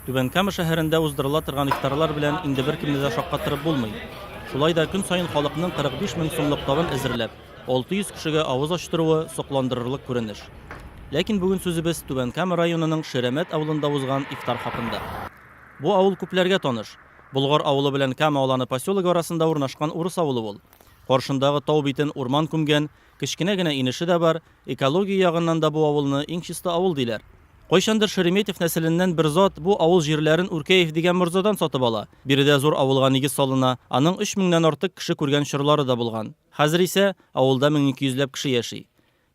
Түбән Кама шәһәрендә уздырыла торган ифтарлар белән инде беркемне дә шаккаттырып булмый. Шулай да көн саен халыкның 45 мең сумлык табын әзерләп, 600 кешегә авыз ачтыруы, сокландырырлык күренеш. Ләкин бүген сүзебез Түбән Кама районының Ширәмәт авылында узган ифтар хакында. Бу авыл күпләргә таныш. Болгар авылы белән Кама Аланы поселогы арасында урнашкан урыс авылы ул. Каршындагы тау битен урман күмгән, Кечкенә генә инеше дә бар, экология ягыннан да бу авылны иң чиста авыл диләр. Кайчандыр Шереметев нәселеннән бер зат бу авыл җирләрен Үркәев дигән морзадан сатып ала. Биредә зур авылга нигез салына, аның өч меңнән артык кеше күргән чорлары да булган. Хәзер исә авылда мең ике йөзләп кеше яши.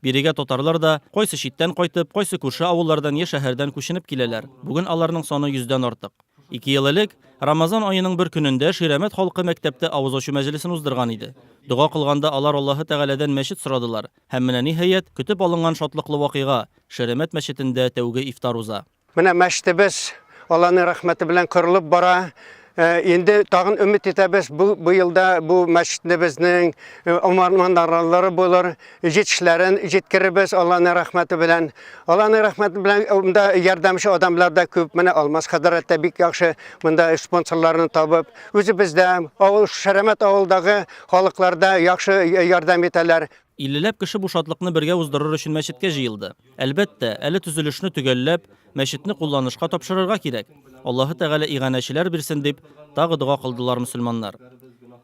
Бирегә татарлар да, кайсы читтән кайтып, кайсы күрше авыллардан я шәһәрдән күченеп киләләр. Бүген аларның саны йөздән артык. Ике ел элек, Рамазан аеның бер көнендә Ширәмәт халкы мәктәптә авыз ачу мәҗлесен уздырган иде. Дога кылганда алар Аллаһы Тәгаләдән мәчет сорадылар. Һәм менә ниһаять, көтеп алынган шатлыклы вакыйга, Ширәмәт мәчетендә тәүге ифтар уза. Менә мәчетебез Алланың рәхмәте белән корылып бара. Инде тагын өмет итәбез, бу елда бу мәчетебезнең омарманарлары булыр, җитешләрен җиткерербез Алланың рәхмәте белән. Алланың рәхмәте белән э, монда ярдәмче адамлар да күп. Менә Алмаз хәзрәт тә бик яхшы монда спонсорларны табып, үзебездә, авыл Шәрәмәт авылдагы халыкларда яхшы э, ярдәм итәләр. Иллеләп кеше бу шатлыкны бергә уздырыр өчен мәчеткә җыелды. Әлбәттә, әле төзелешне төгәлләп, мәчетне кулланышка тапшырырга кирәк. Аллаһы Тәгалә иганәчеләр бирсен дип, тагы дога кылдылар мөселманнар.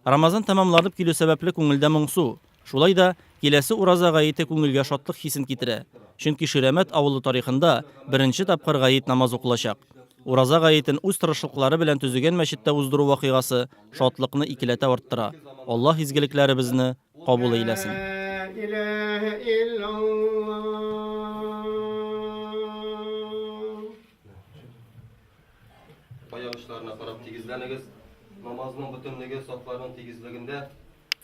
Рамазан тәмамланып килү сәбәпле күңелдә моңсу. Шулай да, киләсе Ураза гаете күңелгә шатлык хисен китерә, чөнки Ширәмәт авылы тарихында беренче тапкыр гает намазы укылачак. Ураза гаетен үз тырышлыклары белән төзегән мәчеттә уздыру вакыйгасы шатлыкны икеләтә арттыра. Аллаһ изгелекләребезне кабул әйләсен! Аяк очларына карап тигезләнегез. Намазның бөтенлеге сафларның тигезлегендә.